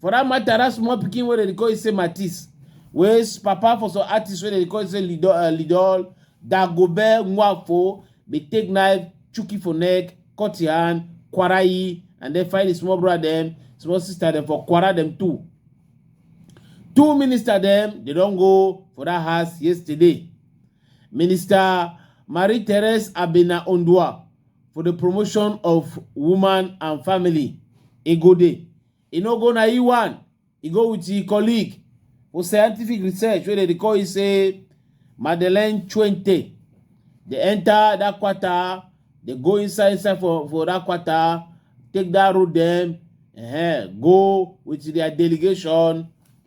For that matter, that small pikin wey dem dey call you say Matisse, wey s- papa for some artists wey dem dey call you say Lido, uh, Lidol, Dagobe, Nwafo, dey take knife, chook it for neck, cut your hand, quarter ye, and then find the small brother them, small sister them for quarter them too. Two minister them, they don't go for that house yesterday. Minister Marie-Therese Abena Ondua for the promotion of woman and family e go dey e no go na e one e go with e colleague for scientific research wey dem dey call e say madeleine chuente dey enter that quarter dey go inside inside for for that quarter take that road dem uh, go with their delegation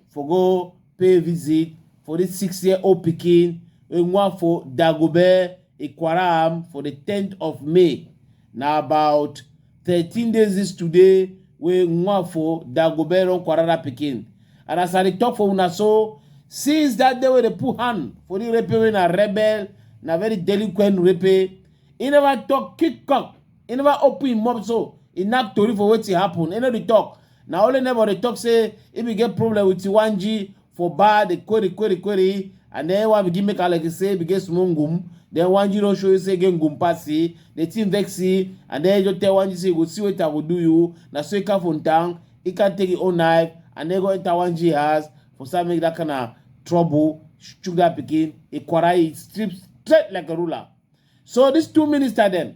for go pay visit for this six year old pikin wey wan for dagobe ikwaram for the 10th of may na about 13 days this today wey wan for dagobe run kwara that pikin and as i dey talk for una so since that day wey dey put hand for the rape wey na rebel na very delinquent rape he never talk kick cock he never open him mouth so he knack tori for wetin happen he no dey talk na only neighbor dey talk say if you get problem with Iwanji for bar dey query query query and then one begin make Alex say we get small ngum then Wanji don show you say get ngum pass see the thing vex see and then you just tell Wanji say you go see wetin I go do you na so he come from town he can take his own knife and then go enter Wanji house for some make that kind of trouble chook that pikin he quarrel he strip straight like a ruler so these two minister dem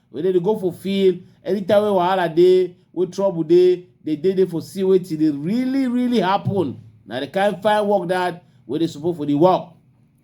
Wey dem dey go for field anytime wey wahala dey, wey trouble dey, dem dey there for see wetin dey really really happen. Na the kind fine work that wey dey support for the work.